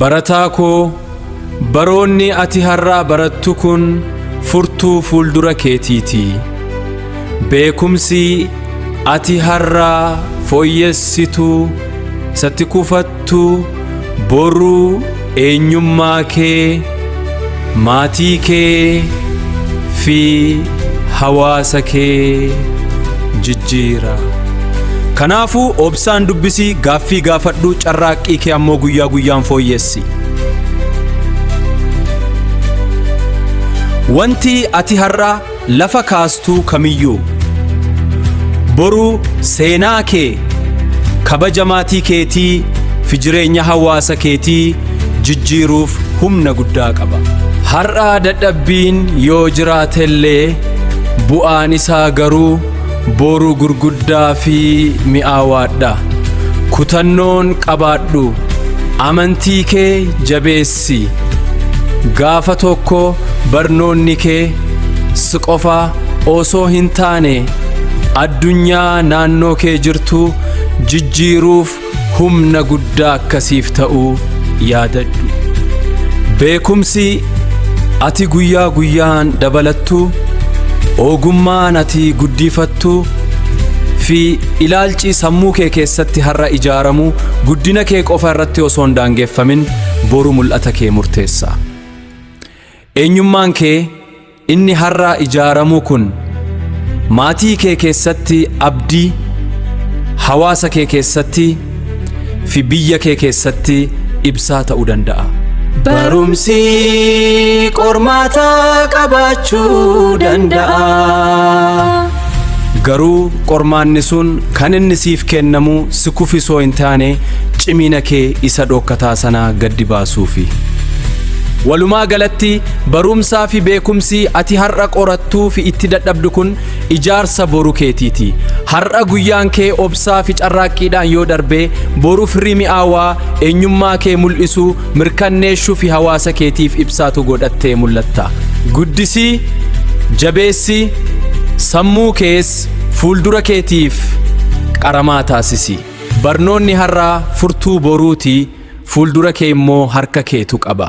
Barataa koo, baroonni ati har'aa barattu kun furtuu fuuldura keetiiti. Beekumsi ati har'aa fooyyessitu, isatti kufattu, boruu eenyummaa kee, Maatii kee fi hawaasa kee jijjiira. Kanaafuu obsaan dubbisi, gaaffii gaafadhu, carraaqqii kee ammoo guyyaa guyyaan fooyyessi. Wanti ati har'a Lafa kaastuu kamiyyuu. Boruu seenaa kee kabaja maatii keetii fi jireenya hawaasa keetii jijjiiruuf humna guddaa qaba. Har'a dadhabbiin yoo jiraatellee bu'aan isaa garuu boru gurguddaa fi mi'aawaadha. Kutannoon qabaadhu. Amantii kee jabeessi. si gaafa tokko barnoonni kee si qofa osoo hin taane addunyaa naannoo kee jirtu jijjiiruuf humna guddaa akkasiif ta'uu yaadadhu. Beekumsi ati guyyaa guyyaan dabalattu, ogummaan ati guddifattu fi ilaalchi sammuu kee keessatti har'a ijaaramu guddina kee qofa irratti osoo hin daangeffamin boru mul'ata kee murteessa. Eenyummaan kee inni har'a ijaaramu kun maatii kee keessatti abdii, hawaasa kee keessatti fi biyya kee keessatti ibsaa ta'uu danda'a. Barumsi qormaata qabaachuu danda'a. Garuu qormaanni sun kan inni siif kennamu si kufisoo hin taane cimina kee isa dhookkataa sanaa gaddi baasuufi. Walumaa galatti barumsaa fi beekumsi ati har'a qorattuu fi itti dadhabdu kun ijaarsa boru keetiiti. Har'a guyyaan kee obsaa fi carraaqqiidhaan yoo darbe boru firii mi'aawaa eenyummaa kee mul'isu mirkanneeshuufi hawaasa keetiif ibsaatu godhattee mul'atta. Guddisi, jabeessi, sammuu kees fuuldura keetiif qaramaa taasisi. Barnoonni har'aa furtuu boruuti, fuuldura kee immoo harka keetu qaba.